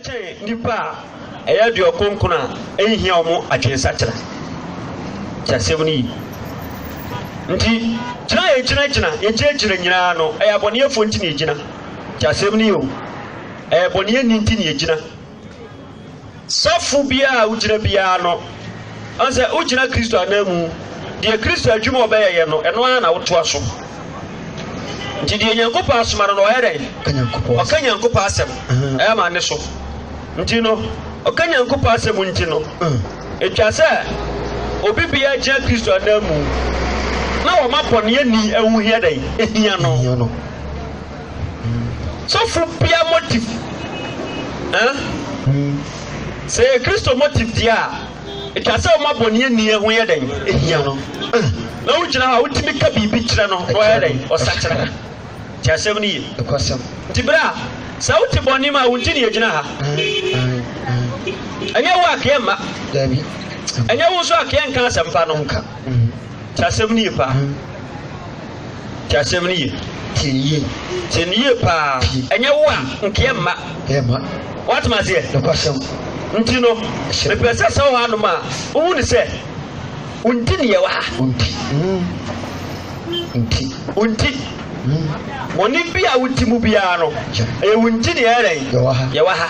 kyɛn nnipa a ɛyɛ aduɔkonkron a enhia wɔn adwensakyera. Te asɛm no yi? Nti, gyina a yegyinagyina, yegyinagyina nyinaa no, ɛyɛ abɔneyɛfoɔ nti na yegyina. Te asɛm no yi o? Ɛyɛ bɔneyɛni nti na yegyina. Safo biara a wogyina biara no, ɔn sɛ wogyina Kristo ananmu, deɛ Kristo adwuma a ɔbɛyɛyɛ no, ɛno ara na wotoa so. Ampa. Nti deɛ Nyankopɔn asoma no no, ɔyɛ dɛn? Ɔka Nyankopɔn asɛm. Ɔka Nyankopɔn asɛm. Ɛyɛ ma ne so. Nti no, ɔka Nyankopɔn asɛm nti no, ɛtwa sɛ obi biara gyina Kristo ananmu na wɔma bɔneɛni ɛho hia dɛn? Ɛhia no. Sɔfo bia motive. Sɛ yɛ Kristo motive deɛ a, Ɛka sɛ ɔma bɔneɛni ho yɛ dɛn? Ɛhia no. Na wogyina hɔ a wotumi ka biribi kyerɛ no na ɔyɛ dɛn? Ɔsakyera. Te asɛm no ye? Nti berɛ a sɛ wote bɔne mu a, wonti ne yɛgyina ha. Ɛnyɛ wo akeɛ mma. Ɛnyɛ wo nso akeɛ nka asɛmpa no. Te asɛm no ye paa. Tie asɛm no yie. Tie no yie. Tie no yie paa. Ɛnyɛ wo a, nkeɛ mma. Ɛyɛ mma. Woatem aseɛ? Nokwasɛm. Nti no, mepɛ sɛ sɛ wohɔ anom a, wohu no sɛ, wonti ne yɛwɔ ha. Wonti. Mm. Nti. Wonti. Mm. Bɔne bi a woti mu biara no, ɛyɛ wonti ne yɛyɛ dɛn? Yɛwɔ ha. Yɛwɔ ha.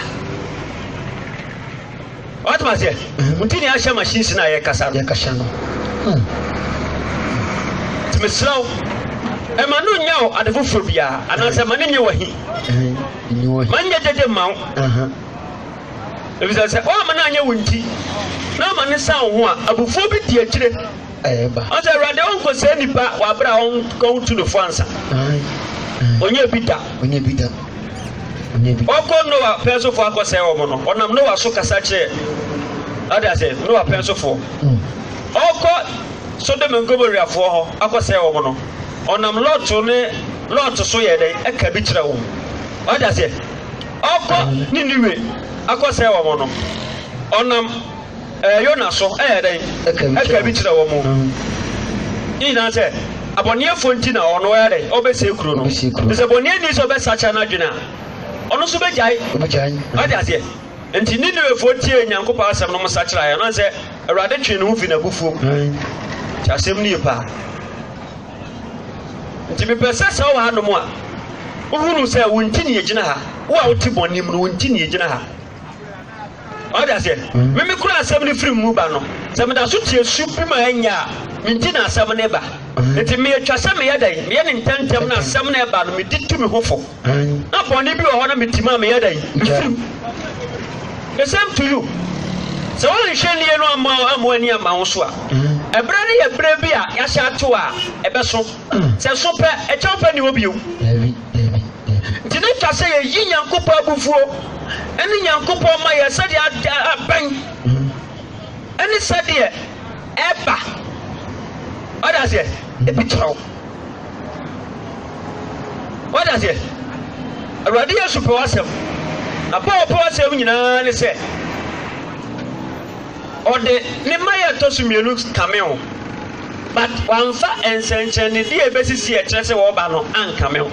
Wate ma seɛ? Nti ne ahyɛ machines no a yɛkasa no. Yɛkasa no. Hmm. Nti mesrɛ wo, ɛma no nyɛ wo ade foforɔ biara anaasɛ ma no nyɛ wahi. Ma nyɛ gyegye mma wo. Ɛfisɛ sɛ woama no anyɛ wo nti na ama no sa wo ho a, abufuo bi di akyire. ɛɛba. Ɔn sɛ Awurade ɔnkɔsɛɛ nipa wɔ abere a ɔntu no fo ansa. Ɔnyɛ bi da. Ɔnyɛ bi da. Ɔnyɛ bi. Ɔkɔ Noa pɛn so fo akɔsɛɛ wɔn no, ɔnam Noa so kasa kyerɛ ɔde ase Noa pɛn so fo. Mm. Ɔkɔ Sodom Ngomora foɔ hɔ akɔsɛɛ wɔn no, ɔnam Lɔto ne Lɔto so yɛ dɛn ɛka bi kyerɛ wɔn. Ɔde ase ɔkɔ Niniwe akɔsɛɛ wɔn no, ɔnam. Ɛɛ Yona nso ɛyɛɛ dɛn? Ɛkaa bi kyerɛɛ wɔn. Ne nyinaa sɛ, abɔneɛfoɔ nti na ɔno ɔyɛ dɛn? Ɔbɛsie kuro no. Te sɛ bɔneɛni sɛ ɔbɛsakyera n'adwene a, ɔno nso bɛgyae. Ɔde aseɛ. Nti Ninewefoɔ tiee Nyankopɔn asɛm no, wɔsakyeraeɛ. Ɔnam sɛ Awurade twee ne ho firi n'abufuo mu. Nti asɛm no ye paa. Nti mepɛ sɛ sɛ wowɔ hanom a, wohunu sɛ wo nti ne yɛgyina ha. Wo a wote bɔne mu no, wo nti ne yɛgyina ha. ɔde aseɛ mm. meme kura asɛm no firi mu ba no sɛ meda so tie su bi ma ɛnyɛ a menti na asɛm no ba mm. nti meɛtwa sɛ meyɛ dɛn meyɛ ne ntɛntɛm na asɛm no ɛba no medi tu me ho fo mm. na bɔne bi wɔ hɔ na metim a meyɛ dɛn mefirim the same to you sɛ woanhwɛ nie no ama ama ani ama wo so a ɛberɛ no yɛ berɛ bi a yɛahyɛ ato a ɛbɛso sɛ so pɛ ɛkyɛw pɛ ne hɔ bio Ntumi ka sɛ yɛyi Nyankopɔn abufuo ne Nyankopɔn ma yɛ sɛdeɛ adeɛ abɛn ne sɛdeɛ ɛba. Ɔda aseɛ, ebi kyerɛ wo. Ɔda aseɛ, Awurade Yesu pɛ w'asɛm. Na Paul pɛ w'asɛm nyinaa ne sɛ. Ɔde ne mma yɛ ɛtɔ so mmienu kame ho, but wamfa nsɛnkyerɛnnedeɛ a ɛbɛsisi a ɛkyerɛ sɛ ɔreba no ankame ho.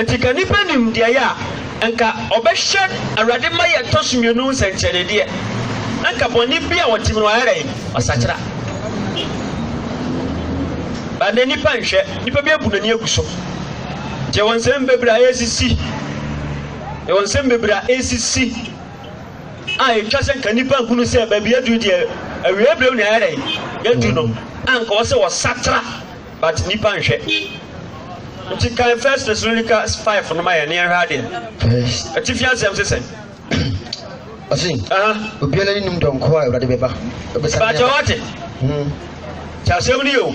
Nti ka nipa nim deɛ yɛ a, nka ɔbɛhwɛ Awurade mma yɛ ɛtɔ so mmienu nsɛnkyerɛnnedeɛ, na nka bɔne bi a ɔtim no wayɛ dɛn? Wasakyera. Ba nnɛ nipa nhwɛ, nipa bi abu n'ani agu so. Nti ɛwɔ nsɛm bebree a ɛresisi, ɛwɔ nsɛm bebree a ɛresisi. a etwa sɛ nka nnipa nhunu sɛ baabi aduru deɛ awiei berɛ ne ayɛ dɛn yɛadu no anka wɔ sɛ wɔsatra but nnipa nhwɛ nti kan first Thessalonica 5 no ma yɛ ne yɛnhwɛ adeɛ atifi asɛm se sɛn ɔse obiara ne nim dɔnko a awurade bɛba bɛbɛsa bɛkyɛ wate kyɛ asɛm no yɛ o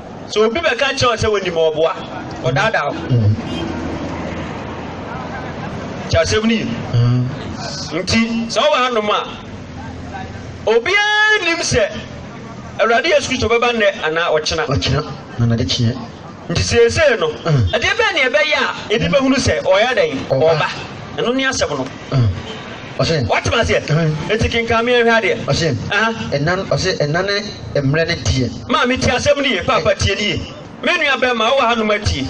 So obi bɛka akyerɛ wo sɛ wɔnim ɔboa ɔdaadaa wo nti asɛm no yi nti sɛ wowɔ anom a obiara nim sɛ awurade yesu kristo bɛba nnɛ anaa ɔkyena ɔkyena na nade kyeɛ nti seesei no ɛdeɛ bɛɛ ne ɛbɛyɛ a ɛde bɛhunu sɛ ɔyɛ dɛn ɔba ɛno ne asɛm no ɔsɛ. Wate ma seɛ. Nti kenkan me ɛhwɛ adeɛ. Ɔsɛ. Ɛna ɔsɛ ɛna ne mmerɛ ne deɛ. Maa me tie asɛm ne ye paapa tie ne ye. Me nua bɛrima wowɔ ha nom atie.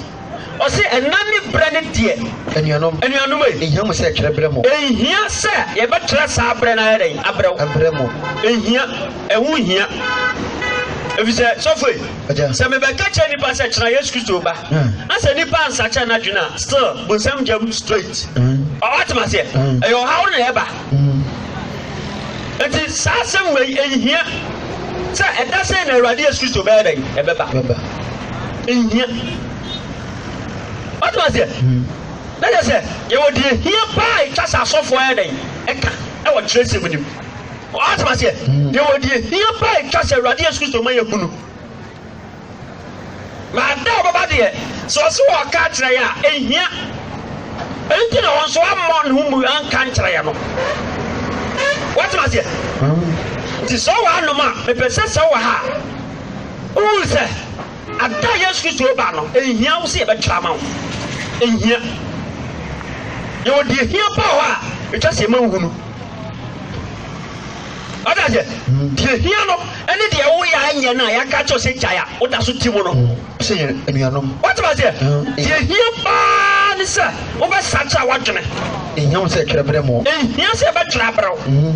Ɔsɛ ɛna ne berɛ ne deɛ. Anuanom. Anuanom ei. Enhia mo sɛ ɛtwerɛ berɛ mo. Enhia sɛ yɛbɛtwerɛ saa berɛ na ayɛ dɛn abrɛ wo. Abrɛ mo. Enhia. Ɛho nhia. Efisɛ sɔfo ei. Sɛ me bɛ ka kyerɛ nipa sɛ kyena yesu kristo ba na sɛ nipa ansa kyɛ na dwene a still bu nsɛm gyam straight ɔwɔ atem aseɛ ɛyɛ ɔhaw na ɛba nti saa asɛm wei ɛnhia sɛ ɛda sɛ na awurade yesu kristo bɛyɛ dɛn ɛbɛba ɛnhia ɔtem aseɛ na yɛ sɛ yɛwɔ deɛ hia paa ɛtwa sɛ asɔfoɔ yɛ dɛn ɛka ɛwɔ kyerɛ sɛm nim Ɔate aseɛ. Yɛwɔ deɛ hia paa ɛtwa sɛ Awurade Yesu Kristo ma yɛhu no. Na da ɔbɛba deɛ, sɛ ɔse ɔka akyerɛ yɛ a, ɛhia. Ɛnti na wɔn nso ammɔ ne ho mu anka nkyerɛ yɛ no. Wɔate aseɛ. Nti sɛ ɔwɔ anom a, mepɛ sɛ sɛ ɔwɔ ha a, wohu sɛ ada Yesu Kristo ba no, ɛhia wo sɛ yɛbɛtwerɛ ama wo. Ɛhia. Yɛwɔ deɛ hia paa hɔ a ɛtwa sɛ yɛma nhunu. Ɔda sɛ deɛ hia no ne deɛ woyɛ a ɛnyɛ no a yɛaka kyɛw sɛ gyae a woda so te mu no. Sɛ yɛ anuanom. Wote aseɛ? Deɛ hia paa ne sɛ wobɛsakyera w'adwene. Ɛhia wo sɛ ɛtwerɛ berɛ mu. Ɛhia sɛ ɛbɛtwerɛ aberɛ wo.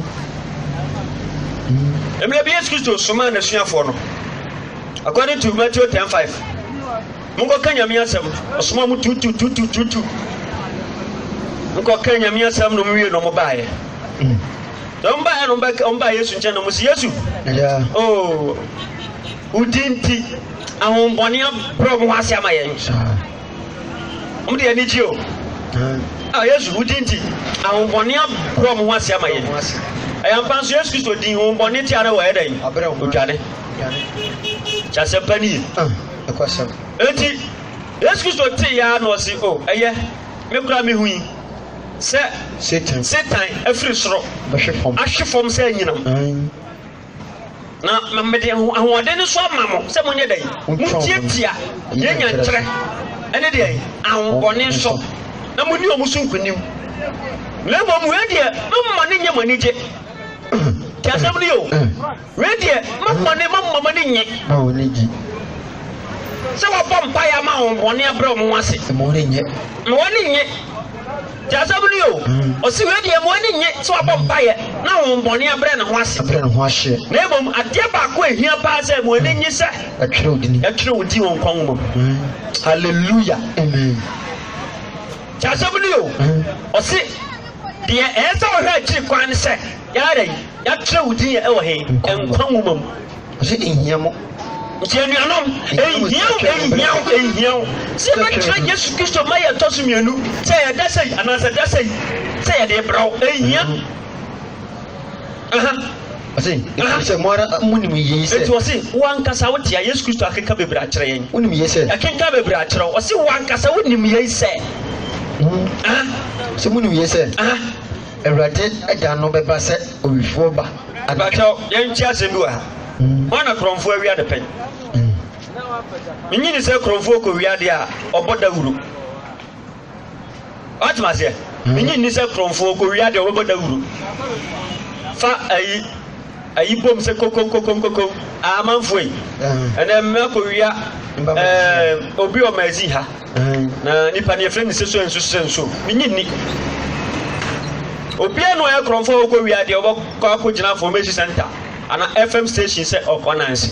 Mmerɛ bi Yesu Kristo somaa n'asuafoɔ no, according to Matthew ten five. Monkɔka Nyame asɛm. Ɔsomaa mo tutututututu. Mokɔka Nyame asɛm no mowie no mobaeɛ. Mm. Sɛ mobaeɛ no moba Yesu nkyɛn no mo si Yesu. Oh, wodi nti ahombɔne abrɛ mo ho ase ama yɛn. Wɔn de anigye o. Ah, Yesu wodi nti ahombɔne abrɛ mo ho ase ama yɛn. Ɛyɛ mpa nso Yesu Kristo din hombɔne tia no wɔ ɛdɛn? Odwane. Kyɛ asɛmpa nie. ɛkɔsɛm. Enti Yesu Kristo tee ara na ɔse, O, ɛyɛ, me koraa mehui sɛ Satan afiri soro ahwe fam sɛ anyinam. Na ma mede ahoɔden no so ama mo sɛ monyɛ dɛn? Motiatia deɛ nya nkyerɛ ɛne deɛ ahobɔne so na moni wɔn so nkonim. Na mmom wei deɛ, momma ne nyɛ mo anigye. Te asɛm no yɛ o. Wei deɛ ma bɔne ma mma m'ani nnye. Ma wɔn ani gye. Sɛ wɔbɔ mpaeɛ ama wɔn bɔne abrɛ wɔn ase. Ma wɔn ani nnye. Ma wɔn ani nnye. Te asɛm no yi o. Ɔsi wei deɛ ma wɔn ani nnye sɛ wɔabɔ mpaeɛ na wɔn bɔne abrɛ ne ho ase. Abrɛ ne ho ahyeɛ. Na mmom adeɛ baako a ehia paa sɛ ma wɔn ani nnye sɛ. Yɛatwerɛ wo din. Yɛatwerɛ wo din wɔ nkwa nwoma mu. Hallelujah. Amen. Te asɛm no yi o. Ɔsi deɛ ɛyɛ sɛ wɔhwɛ akyiri kwan ne sɛ. Yɛada yi, yɛakyerɛ wo din wɔ he? Nkwa nwoma mu. Ɔse, Enhia mo. Nti anuanom, enhia wo, enhia wo, enhia wo sɛ yɛbɛkyerɛ Yesu Kristo ma yɛ ɛtɔ so mmienu, sɛ yɛ da sɛi anaa sɛ da sɛi, sɛ yɛde rebrɛ wo. Enhia. Aha. Ɔse, Aha. Sɛ mo ara monim yie sɛ. Enti ɔse, Wo ankasa wo tea Yesu Kristo akenka bebree akyerɛ yɛn. Wonim yie sɛ. Yɛkenka bebree akyerɛ wo. Ɔse, Wo ankasa wonim yei sɛ. Aha. Sɛ monim yie sɛ. Aha. Awurade da no bɛba sɛ owifoɔ ba anadwo. Mpakyɛw, yɛnkyɛ asɛm bi wɔ ha. Hwan na korɔmfoɔ awia de pɛn? Menye ne sɛ korɔmfoɔ kɔwia adeɛ a, ɔbɔ dawuro. Woatem aseɛ? Menye nni sɛ korɔmfoɔ kɔwia adeɛ a, ɔbɛbɔ dawuro. Fa ayi. ayi bom sɛ kokonkokonkonko amanfoɔ yi ɛnɛ mmɛ akɔwia ɛɛ obi ɔma ɛzi ha na nipa ne yɛfrɛ ne sɛ so nso sɛ nso menye nni obiara na ɔyɛ korɔmfoɔ a ɔkɔ wia deɛ ɔbɛkɔ akɔgyina information center ana fm station sɛ ɔkɔ nanse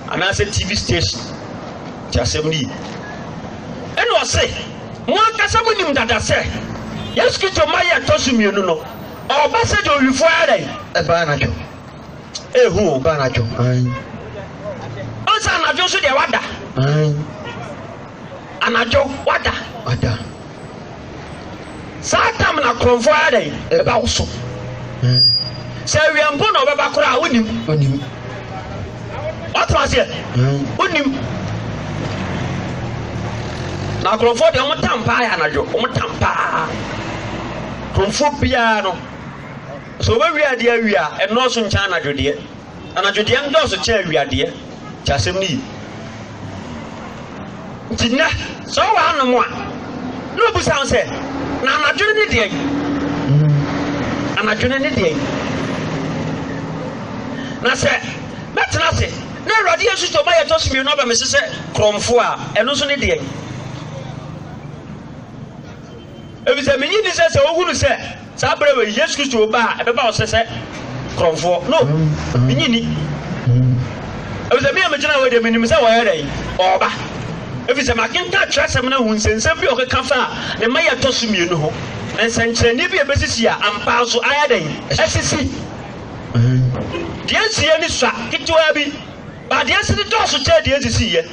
anaasɛ tv station ti asɛm no yi ɛna ɔse mo ankasa monim dada sɛ yesu kristo ma yɛ ɛtɔ so mmienu no Ɔba sɛ dɔnhwefo ara dɛn? Ɛba anadwo. Ehu o. Ɛba anadwo. Ayi. Ɔsɛ anadwo nso deɛ wada. Ayi. Anadwo wada. Wada. Saa tam na korɔmfo ara dɛn? Ɛba wo so. Sɛ awia mpo na ɔbɛba koraa wonim. Wonim. Ɔtena aseɛ. Wonim. Na korɔmfo deɛ wɔn tam paa yɛ anadwo. Wɔn tam paa. Homfo biara no, sɛ wɔbɛwia adeɛ awie a, ɛnnɔɔso nkyɛn anadwodeɛ. Anadwodeɛ ndɔɔso kyɛn awiadeɛ. Nti asɛm no yi. Nti nnɛ, sɛ wowɔ hanom a, na ɔbusa ho sɛ, na anadwene ne deɛn? Anadwene ne deɛn? Na sɛ mɛtena ase na Awurade yɛ nsusuo ma yɛtɔ so mmienu aba me so sɛ korɔmfoɔ a, ɛno nso ne deɛn? efisɛ minnye nni sɛ sɛ wohunu sɛ saa bere wɔ Yesu Kristo reba a, ɛbɛba ɔsɛ sɛ korɔmfoɔ. No, minnye nni. Efisɛ me a megyina hɔ deɛ minim sɛ ɔyɛ dɛn? Ɔreba. Efisɛ makenkan twerɛsɛm no ahu nsɛnsɛm bi a ɔkeka faa ne mma yi a ɛtɔ so mmienu ho, nsɛnkyerɛnne bi a ebesisi a ampa nso ayɛ dɛn? Asisi. Deɛ esiiɛ no sua ketewaa bi, but deɛ esi no dɔɔso kyɛn deɛ esisiiɛ.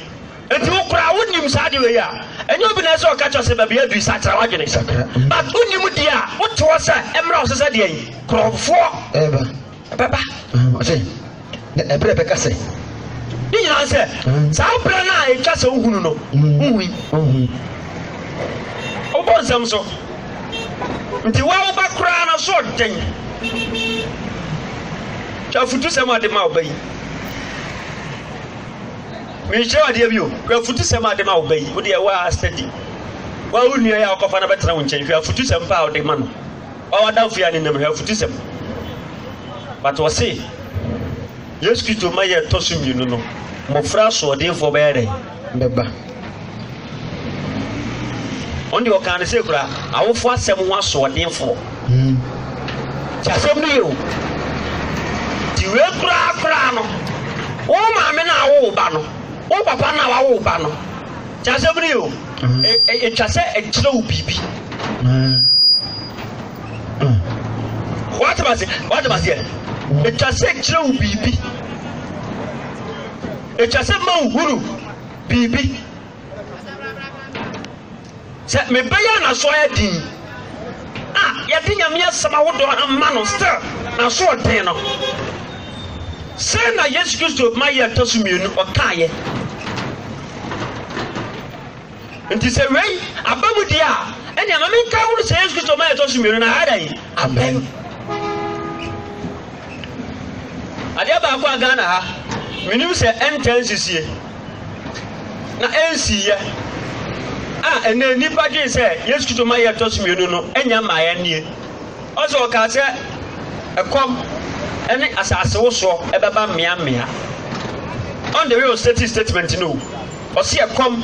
Nti wo koraa wo nim saa de wei a ɛnyɛ obi na ɛsɛ ɔka kyɛ sɛ baabi adui sakra wadwene sakra but wo nim deɛ a wo te hɔ sɛ ɛmmerɛ wo sɛ sɛ deɛ yi korɔfoɔ ɛba ɛbɛba ɔsɛ na ɛberɛ bɛka sɛ ne nyinaa sɛ saa berɛ no a ɛtwa sɛ wohunu no wohui wobɔ nsɛm so nti woa woba koraa no so ɔden afutu sɛm ɔde ma ɔba yi Merekyerɛ wo adeɛ bi o, hwɛ afutusɛm a ɔde ma wo ba yi, wo deɛ woa study. Wo ara wo nua yi a wokɔfa no bɛtena wo nkyɛn, hwɛ afutusɛm pa a ɔde ma no. Wo ara w'adamfo yi a nenam, hwɛ afutusɛm. But ɔse, Yesu Kristo mma yɛ ɛtɔ so mmienu no, mmɔfra asoɔdenfoɔ bɛyɛ dɛn? Bɛba. Ɔno deɛ ɔkaa no sei koraa, awofo asɛm ho asoɔdenfoɔ. Te asɛm no yie o. Te wei koraa koraa no, wo maame no a awo wo ba no, wo papa no a wawo wo ba no, te asɛm no yie o. Ɛtwa sɛ ɛkyerɛ wo biribi. Wate ma se, wate ma seɛ. Ɛtwa sɛ ɛkyerɛ wo biribi. Ɛtwa sɛ ma wo hunu. biribi. Sɛ me ba yi a n'aso ayɛ den yi a yɛde Nyame asɛm ahodoɔ ama no still n'aso ɔden no, sɛ na Yesu Kristo ma yɛ ɛtɔ so mmienu ɔkaeɛ. Nti sɛ wei aba mu deɛ a ɛnea ma menka ho no sɛ Yesu Kristo ma yɛ ɛtɔ so mmienu na ayɛ dɛn? Amen. Adeɛ baako a Ghana ha, menim sɛ ɛntɛn sisie na ɛnsiiɛ a ɛnɛ nnipa dwen sɛ Yesu Kristo ma yɛ ɛtɔ so mmienu no ɛnya mmaeɛ nie. Ɔsɛ ɔkaa sɛ ɛkɔm ɛne asase wosoɔ ɛbɛba mmea mmea. On the way ɔstate statement no, ɔsɛ ɛkɔm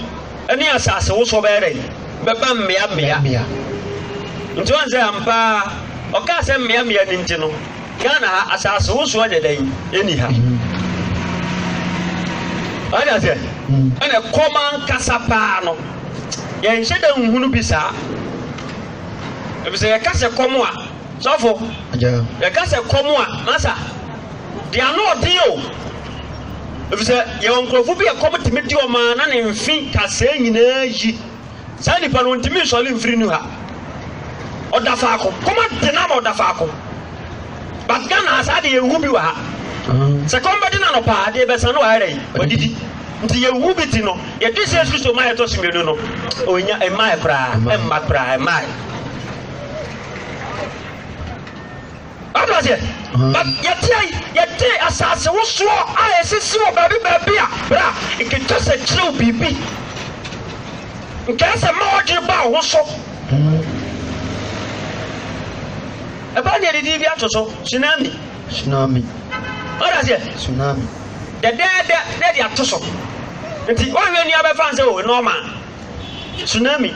ne asasewosoɔ bɛyɛ dɛn? Bɛba mmeammea. Nti woahu sɛ ampa ara ɔkaa sɛ mmeammea no nti no, Ghana ha asasewosoɔ nyɛ dɛn? Ɛnni ha. Ɔde aseɛ ɛna ɛkɔm ankasa paa no yɛnhyɛ da nhunu bi saa. Ɛfisɛ yɛka sɛ kɔm a, sɔfo, yɛka sɛ kɔm a, masa. de anoɔden o, ɛfiri sɛ yɛwɔ nkurɔfo bi a ɛkɔm tumi de wɔn a na ne mfe kasaa nyinaa yi saa nipa no ntumi nsɔre mfiri nu ha ɔda faako kɔma de na ama ɔda faako but ghana ha saa de yɛhu bi wɔ ha sɛ kɔm bɛde no anɔpa adeɛ bɛsa no waɛrɛ yi wadidi nti yɛhu bi ti no yɛde sɛ kristo ma yɛtɔ so mmienu no ɔnya ɛmaɛ koraa ɛmma koraa ɛmaɛ Wate aseɛ? But yɛteɛ yi, yɛte asase wosoɔ a ɛsisi wɔ baabi baabi a, bra, nkeka sɛ kyerɛ wo biribi. Nkae sɛ ma wɔdwene ba wo ho so. Ɛbɛn deɛ didi bi ato so, tsunami. Tsunami. Wate aseɛ? Tsunami. Dɛdɛɛdɛ na ɛde ato so. Nti wɔnhwɛ nua bɛfa nsɛ o, nɔɔma. Tsunami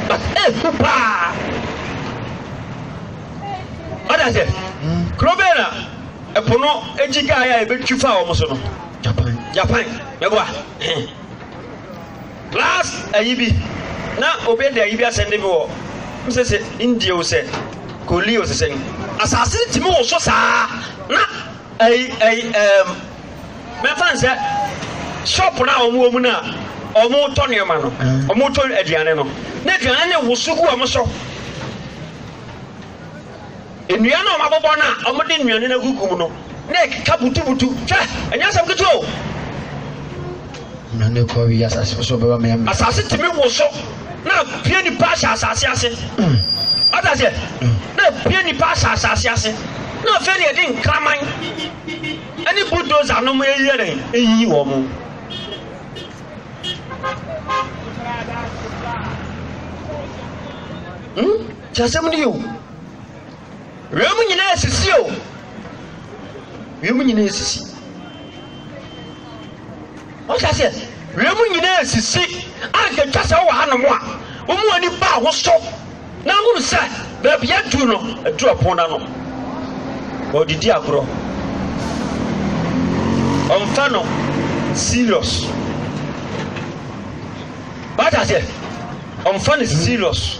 but efu eh, paa ɔde aseɛ kuro bɛn na ɛpo no egyi kaa yɛ a ebetwi fa wɔn so no Japan Japan mɛboa plus ayi bi na obi de ayi bi asɛn de bi wɔ mo sɛ sɛ India o sɛ koli o sɛ sɛn asase tìmi wɔ so saa na. Ɛyi ɛyi ɛɛm mɛfa no sɛ shop no a wɔn wɔ mu no a wɔn tɔ nneɛma no wɔn tɔ aduane no na aduane no woso gu wɔn so nnua no a wɔn abobɔ no a wɔn de nnuane no agugu mu no na ɛkeka butubutu hwɛ ɛnyɛ asɛm ketewa o. Na ne kɔ awie asase so bɛba mɛ. Asase tumi woso na pie nipa ahyɛ asase ase. Ɔta mm. sɛ mm. na pie nipa ahyɛ asase ase. Na afei na yɛde nkraman ɛne bulldozer nom ɛyɛ dɛ ɛyiyi wɔn mo. Hmm? Kyɛ asɛm no yɛ o. Wiem nyinaa asisi o. Wiem nyinaa asisi. Ɔhyɛ aseɛ. Wiem nyinaa asisi. Anka twa sɛ wɔ hanom a, wɔn mu ani baa ho so. Na ahunu sɛ baabi adu no, adu ɛpono n'ano. Ɔdidi agorɔ. Ɔmfa no serious. Ɔhyɛ aseɛ. Ɔmfa no serious.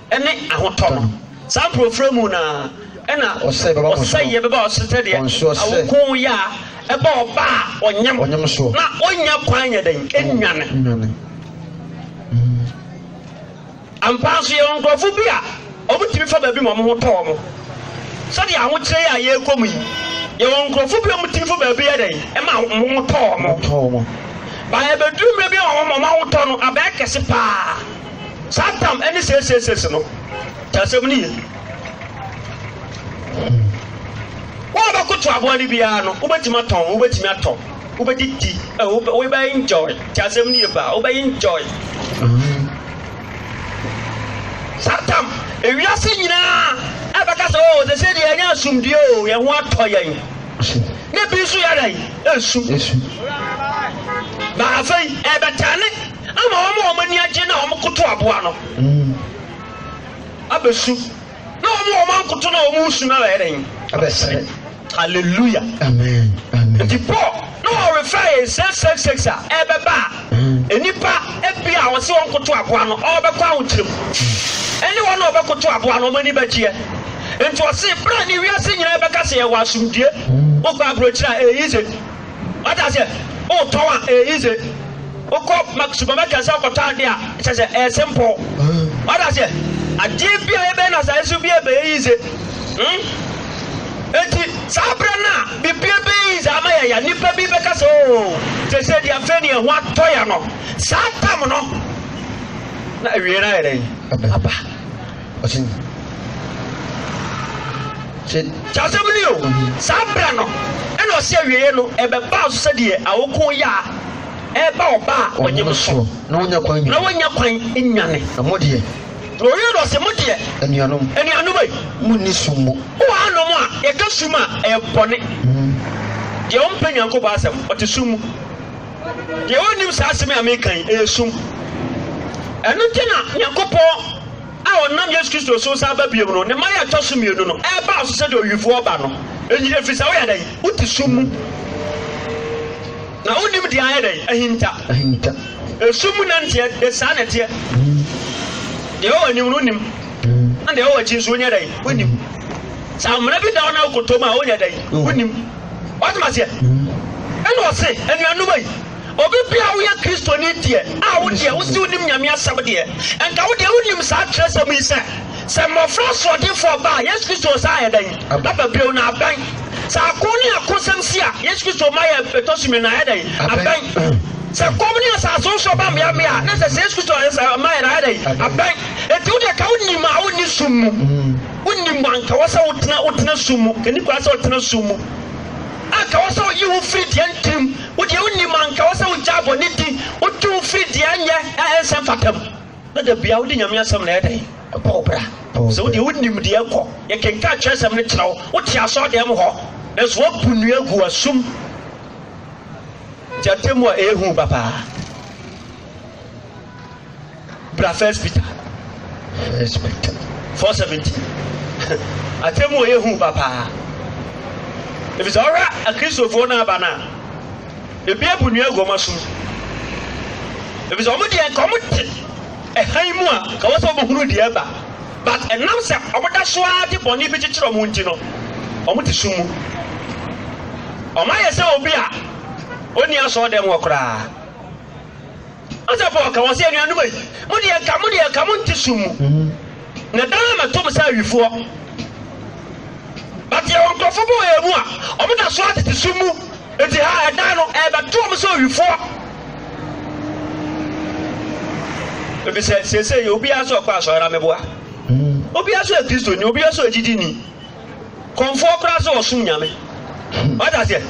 ne ahotɔ no. Saa mporofirɛ mu no ara na ɔsɛeɛ bɛba wo so sɛdeɛ awoko yea ba ɔba a ɔnyem na ɔnnya kwan nyɛ dɛn? Nnwane. Ampa ara nso yɛwɔ nkurɔfo bi a wɔtumi fa baabi ma wɔn ho tɔ wɔn. Sɛdeɛ ahokyerɛ yi a yɛrekɔ mu yi, yɛwɔ nkurɔfo bi a wɔtumi fa baabi yɛ dɛn? Ɛma wɔn ho tɔ wɔn. Ba ɛbɛduru mmerɛ bi a wɔn ahotɔ no abɛyɛ kɛse pa ara. Saa tam ne seesiesees no kyɛ asɛm no ye. Wo a wobɛkoto aboa no biara no, wobɛtumi atɔn, wobɛtumi atɔ, wobɛdidi, wobɛ enjoy kyɛ asɛm no ye paa, wobɛ enjoy. Saa tam ewiase nyinaa ɛbɛka sɛ o sese deɛ ɛnyɛ asomdue o yɛn ho atɔ yɛn ne bi nso yɛ dɛn esu na afei ɛbɛtɛne. ama wɔn a wɔn ani agye no a wɔkoto aboa no abɛsu, na wɔn a wɔankoto no a wɔresu no abɛyɛ dɛn? Abɛsere. Hallelujah. Amen. Amen. Nti Paul na wɔrefa yɛn sɛ sex sex a ɛbɛba a nnipa ebi a wɔsi wɔn koto aboa no ɔbɛkɔ ahokyere mu ɛne wɔn a ɔbɛkoto aboa no wɔn ani bɛgyeɛ nti ɔsi bere a ne wiase nyinaa bɛka sɛ yɛwɔ asomdue wokɔ aburokyire a ɛyɛ yize Wate aseɛ? Wotɔn a, ɛyɛ yize. Wokɔ supermarket sɛ wokɔtɔ adeɛ a, kyɛ sɛ ɛyɛ simple. Wate aseɛ? Adeɛ bi a yɛbɛyɛ no asase so bi a ɛbɛyɛ yize. Hmm? Enti, saa berɛ no a biribi ɛbɛyɛ yize ama yɛ ya, nnipa bi bɛka sɛ, oo, te sɛ deɛ afei ne ɛho atɔ ya no. Saa tam no, na awie no ayɛ dɛn? Aba. ɔsɛ nyi sɛ asɛm no o saa berɛ no ɛna ɔsɛ awieɛ no ɛbɛbaa so sɛdeɛ awoko yɛ a ɛba ɔba a ɔnyem so na wonya kwan na wonya kwan nwane na mo deɛ na ɔwie no ɔsɛ mo deɛ anuanom anuanom ei mo nni sum mu wowɔ anom a yɛka sum a ɛyɛ bɔne deɛ ɔmpɛ nyankopɔn asɛm ɔte sum mu Deɛ ɔnnim saa asɛm yi a mereka yi, ɛyɛ sum. Ɛno nti na Nyankopɔn a ɔnam Yesu Kristo so san ba biom no, ne mmaeɛ a ɛtɔ so mmienu no, ɛreba wo so sɛdeɛ owifoɔ reba no. Enti, ɛfiri sɛ woyɛ dɛn? Wote sum mu, na wonnim deɛ ayɛ dɛn? Ahinta. Ahinta. Esum mu nanteɛ, de saa na ɛteɛ. Deɛ ɛwɔ anim no wonim, na deɛ ɛwɔ akyi nso wonyɛ dɛn? Wonim. Sɛ amena bi da wo na wokɔtɔ mu a, wonyɛ dɛn? Wonim. Wate maseɛ? Ɛna ɔse, anuanom yi, obi bia a woyɛ Kristoni deɛ, a wo deɛ wose wonim Nyame asɛm deɛ, nka wo deɛ wonim saa twerɛsɛm yi sɛ, sɛ mmɔfra asoɔdenfoɔ ba a, Yesu Kristo ɔsan ayɛ dɛn? Aba bio na abɛn. Sɛ ako ne akosɛm si a, Yesu Kristo ma yɛ ɛtɔ so mmienu na ayɛ dɛn? Abɛn. Sɛ kɔm ne asase nso ba mmeammea a, na sɛ sɛ Yesu Kristo ma yɛ na ayɛ dɛn? Abɛn. Enti wo deɛ ka wonim a wonni sum mu. Wonni mu a, anka wɔ sɛ wotena, wotena sum mu, kani koraa sɛ wotena sum mu. Anka wɔ sɛ woyi wo firi deɛ ntirim, wo deɛ wonni mu, anka wɔ sɛ wogyaa bɔne di, wotwe wo firi deɛ ɛnyɛ, a ɛnsɛ mfata mu. Na da biara wode Nyame Asɛm na ɛyɛ dɛn? Ɛbɔ wo bra. Sɛ wo deɛ wonim deɛ ɛkɔ, yɛkenkan twerɛsɛm no kyerɛ wo, wote asɔɔdan mu hɔ, nanso woabu nnua agu asum, nti atemmu a ɛyɛ hu ba paa. bra first peter first peter four seventy atɛmu a ɛyɛ hu papaa efisɛ ɔhwɛ akristofoɔ no aba no a ebi abu nua agu ɔma som efisɛ ɔmo deɛ nka ɔmo te ɛhan mu a ka wɔ sɛ ɔmo hunu deɛ ɛba but ɛnam sɛ ɔmo da so ara de bɔnne bi kyekyere ɔmo nti no ɔmo te sum mu ɔmo ayɛ sɛ obi a ɔnni asɔɔ dɛm wɔ koraa. Ɔsɔfo ɔka wɔn sɛ, Anuanom a, mo deɛ anka, mo deɛ anka monte sum mu, na daa mɛto mo sɛ awifoɔ. But yɛwɔ nkurɔfo bi wɔ yɛn mu a, wɔn da so ara tete sum mu, enti ha ɛdan no ɛrebɛto wɔn sɛ awifoɔ. Efisɛ seesei obiara nso rekɔ asɔre na meboa. Obiara nso yɛ Kristoni, obiara nso yɛ gyidini. Kɔmfoɔ koraa sɛ ɔsom nyame. Wata aseɛ?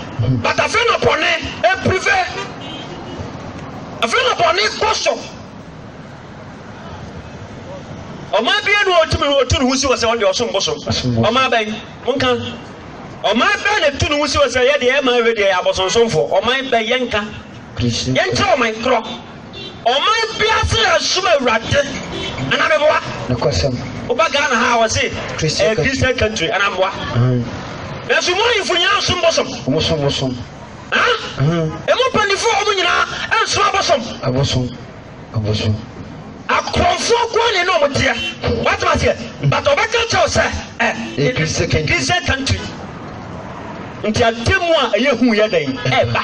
But afei na bɔne ɛpirive. Afei na bɔne kɔ so. Ɔmaa bia na ɔtumi no ɔtu ne ho si wɔ sɛ ɔde ɔsom bosom. Ɔmaa bɛn? Monka. Ɔman bɛn na tu ne ho si wɔ sɛ yɛdeɛ ɛma ɛwɛ deɛ yɛ abosonsomfoɔ. Ɔman bɛn yɛnka. Yɛnkyerɛ ɔman korɔ. Ɔman biara sɛ yɛsom Awurade anaa meboa. Nokwasɛm. Woba Ghana ha a wɔse ɛyɛ Christian country anaa meboa. Nanso mu ahemfo nyinaa nsom bosom. Wɔsom bosom. Emu mpanyinfoɔ wɔn nyinaa nsom abosom. Abosom. Abosom. Akorɔmfoɔ nkoa ne ne wɔn teɛ. Wɔatom aseɛ. But ɔbɛka kyɛw sɛ ɛ Christian country. Nti atemu a ɛyɛ hu yɛ dɛn ɛba.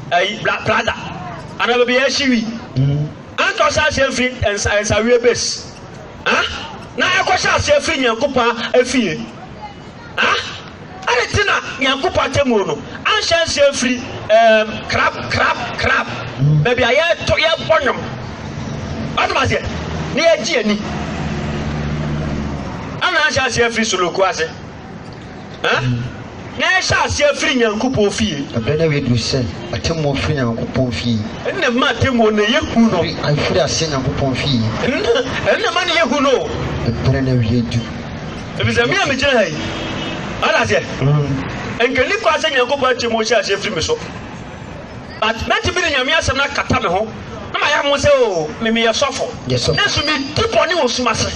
ayi bla plaza anaa baabi a yɛhye wi anka ɔhyɛ aseɛ mfiri nsa nsaweɛ base ah na ɛkɔhyɛ aseɛ firi nyankopɔn afie ah ɛne te na nyankopɔn atemmuo no anhyɛ nseɛ mfiri um, crab crab crab baabi a yɛto yɛbɔ nnwom atom aseɛ na yɛgye ani ana anhyɛ aseɛ firi soloko ase Na yɛhyɛ aseɛ firi Nyankopɔn fie. Ɛberɛ no awie duru sɛ atemmuo firi Nyankopɔn fie. Ɛnna mma atemmuo no yɛ hu no. Ɛfiri aseɛ Nyankopɔn fie. Ɛnna mma no yɛ hu no. Ɛberɛ no awie duru. Ɛfiri sɛ me a megyina ha yi, wate aseɛ, ɛnka ɛnni kwan sɛ Nyankopɔn atemmuo hyɛ aseɛ firi me so. but mɛtumi de Nyame asɛm no akata me ho na mayɛ mo sɛ o me meyɛ sɔfo nanso medi bɔne wɔ sum ase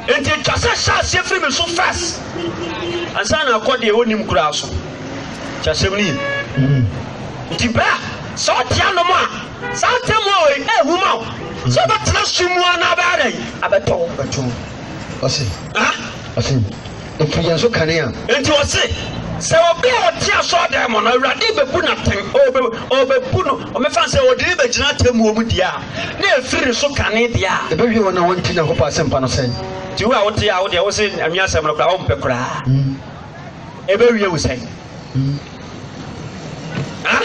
nti ɛtwa sɛ hyɛ aseɛ firi me so first ansa na akɔ deɛ ɔnim koraa so kyɛ asɛm no yi nti berɛ a sɛ ɔte anom a saa tɛmu a ɔyi ɛhu ma wo sɛ ɔbɛtena sum mu anaa bɛyɛ dɛn abɛtɔ ɔse ɔse Ɛfiri yɛn so kane a. Enti ɔse, Sɛ obi a ɔte asɔɔdan mu no, Awurade bebu no atɛn, ɔbe, ɔbebu no, ɔmefa no sɛ ɔde no bɛgyina atemmuo mu deɛ a, na ɛfiri ne so kane deɛ a. Ɛbɛhwie wɔn a wɔnte Nyankopɔn asɛmpa no sɛn? Nti wo a wote a, wo deɛ wose anwia asɛm no koraa wompɛ koraa, ɛbɛwie wo sɛn? ah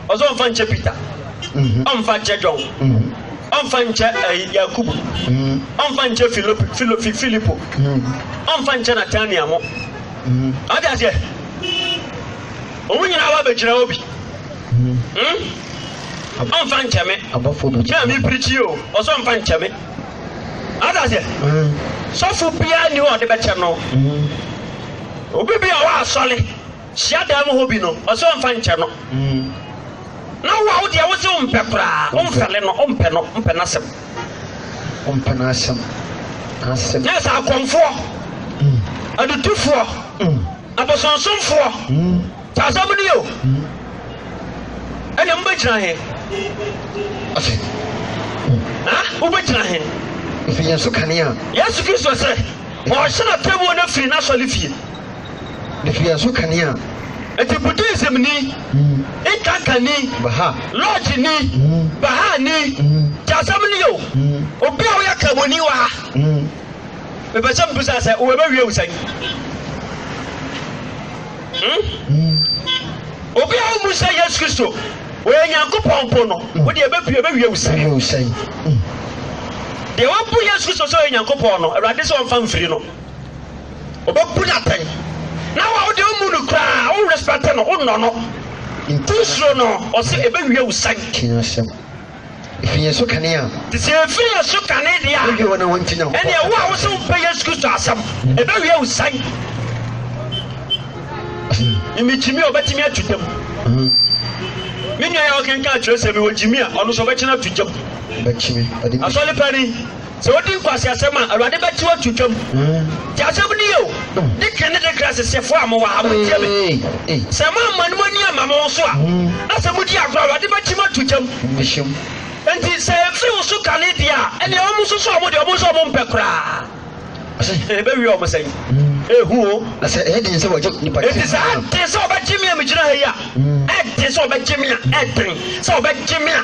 ɔsɛ ɔmfa nkyɛ peter mhm. ɔmfa nkyɛ john mhm. ɔmfa nkyɛ eh, yakubu mhm. ɔmfa nkyɛ filipo ɔmfa nkyɛ natania mo ɔde aseɛ ɔmu nyinaa wa bɛgyina hɔ bi ɔmfa nkyɛ me na mepirikyi o ɔsɛ ɔmfa nkyɛ me Ɔte aseɛ? Sɔfo biara nni hɔ a ɔde bɛkyɛ no. Obi bi a ɔwɔ asɔre hyiadan mu hɔ bi no, ɔse ɔmfa nkyɛ no. Na wo a wo deɛ wose wompɛ koraa, womfɛle no, wompɛ no, wompɛ n'asɛm. Wompɛ n'asɛm, n'asɛm. Na ɛsɛ akɔmfoɔ, adutofoɔ, abosonsomfoɔ. Saa asɛm no yɛ o. Ɛnna mobɛgyina he? Ɔse, ha? Wobɛgyina he? Ɔse, yɛn so kanea. Yesu Kristo sɛ, ɔhyɛ na tɛbuo no firi n'asɔre fie. Ne firi yɛn so kanea. Nti Buddhism ni, mm. Inkanka ni, Baha, Lodge ni, mm. Baha ni, mm. Ti asɛm ni o. Obi a woyɛ kamoni wɔ ha. Mepɛ sɛ mbusa sɛ wobɛwie wo sɛn? Hmm? Obi a womu sɛ Yesu Kristo wɔyɛ Nyankopɔn po no, hmm. wode ɛbɛpie bɛwie wo sɛn. Hmm. Deɛ wabu Yesu Kristo sɛ ɔyɛ Nyankopɔn no, Awurade sɛ ɔmfa mfiri no. Ɔbɛbu no atɛn. Na wa wode womu no koraa, wo respect no, wonnɔ no. Wosuro no, ɔsɛ ɛbɛwie wo sɛn. Fi yɛn so kane a. Te sɛ efi yɛn so kane deɛ a. Wodwe wɔn a wɔnte Nyankopɔn asɛm. Ɛnneɛ wo a wosɛ wompɛ Yesu Kristo asɛm, ɛbɛwie wo sɛn? Mimi Jimmy ɔbɛtumi atu gyam. Me nua yɛ ɔkenkan atwerɛsɛm yi wɔ Jimmy a ɔno nso ɔbɛkyena atu gyam. Asɔre panin. Sɛ wodi nkwaseasɛm a, Awurade bɛte wo ato twam. Tie asɛm no yie o, Dikin ne Dekra Sesefo a mowɔ ha, montie me. Sɛ moamma mo ani amma mo ho so a, na sɛ modi agorɔ a, Awurade bɛte mo ato twam. Enti sɛ ɛmfiri wo so kane deɛ a, ɛnneɛ wɔnsusu wɔn deɛ wɔn nso wɔmpɛ koraa. Ɔse, ɛbɛwie wɔn sɛn? Ehu o. Na sɛ ɛyɛ den sɛ wɔgye nipa kyɛ. Enti sɛ ɛyɛ den sɛ wɔbɛgye me a megyina ha yi a, ɛyɛ den sɛ wɔbɛgye me a, ɛyɛ den sɛ wɔbɛgye me a.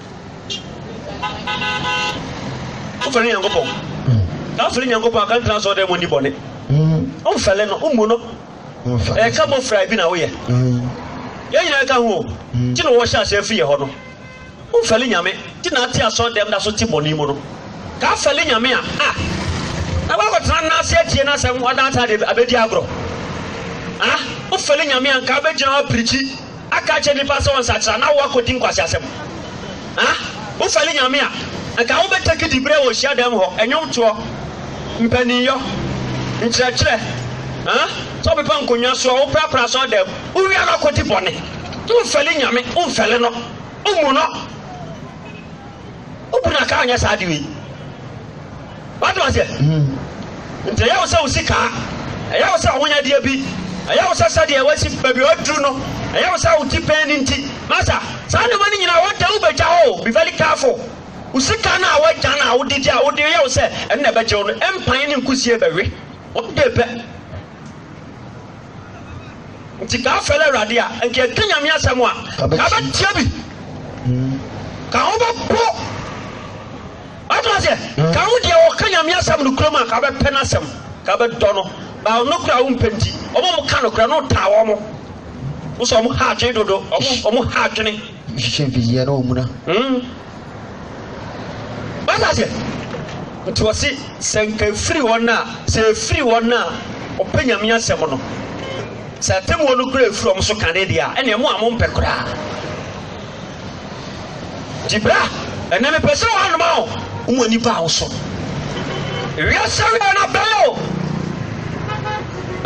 wofɛre nyankopɔn na wofɛre nyankopɔn aka ntena sɔɔ dɛ mu ni bɔne womfɛle no wommu no ɛka bɔ fra bi na woyɛ yɛn nyinaa ka ho nti na wɔhyɛ aseɛ firi yɛ hɔ no womfɛle nyame nti na ate asɔɔ dɛm da so te bɔne mu no ka fɛle nyame a a na wakɔtena no ase atie no asɛm ɔda atade abɛdi agorɔ a wofɛle nyame a nka bɛgyina hɔ apirikyi Aka akyerɛ nnipa sɛ wɔnsakyera na wɔakɔdi nkwaseasɛm. A Wofɛre Nyame a, anka wobɛtake diberɛ wɔ hyiadan mu hɔ, nnwomtoɔ, mpaninyɔ, nkyerɛkyerɛ, a sɛ wopepa nkonnwa soɔ, woprapra asɔrdan mu, wowia na wokɔdi bɔne. Womfɛre Nyame, womfɛre No, wommu No. Wobu No a, ka ɔnyɛ saa ade wei. Wate aseɛ? Nti ɛyɛ wo sɛ wo sika, ɛyɛ wo sɛ w'ahonyadeɛ bi, ɛyɛ wo sɛ sɛdeɛ wasi baabi a waduru no, ɛyɛ wo sɛ wo ti pɛn no nti. Masa, saa nneɛma no nyinaa one day wobɛgya hɔ o, be very careful. Wo sika no a woagya no a wode gye a wode yɛ wo sɛ ɛno na ɛbɛgye wo no, mpan ne nkusie bɛwe one day pɛ. Nti ka afɛle Awurade a, nka ɛka Nyame asɛm a, ka bɛtia bi, ka ho bɛpo. Wate aseɛ? Ka wo deɛ ɔka Nyame asɛm nokorɛm a, ka wobɛpɛ n'asɛm, ka wobɛdɔ no, ba ɔno koraa wompɛ nti, ɔmo a ɔmo ka nokorɛ no wotaa ɔmo, wo sɛ ɔmo ha adwene dodo, ɔmo, ɔmo ha adwene. Hwehwɛ mfidieɛ na ɔmuna. Mm. Wate aseɛ? Nti wɔse, sɛ nka ɛfiri wɔn a, sɛ ɛfiri wɔn a ɔpɛ Nyame asɛm no, sɛ atemmuo no koraa ɛfiri ɔmo so kane deɛ a, ɛneɛ mo a mompɛ koraa. Nti bra, ɛnnɛ mepɛ sɛ wɔanoma wo. Wo ani baa wo so. Wiase awiei no abɛn o.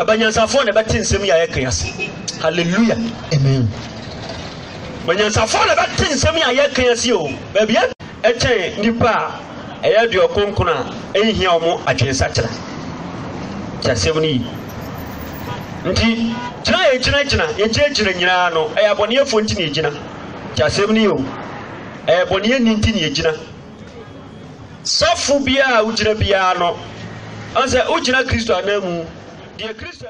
Ɛbɛ nyansafoɔ na ɛbɛte nsɛm yi a yɛka ase. Hallelujah. Amen. Bɛ nyansafoɔ na ɛbɛte nsɛm yi a yɛka ase o. Baabi kyɛn nnipa a ɛyɛ aduɔkronkron a enhia wɔn adwensakyera. Tie asɛm no yie. Nti, gyina a yɛgyinagyina, yɛgyinagyina nyinaa no, ɛyɛ abɔneɛfoɔ nti na yɛgyina. Tie asɛm no yie o. Ɛyɛ bɔneɛni nti na yɛgyina. Sɔfo biara a wogyina biara no, ɔn sɛ wogyina Kristo ananmu. Deɛ Kristo.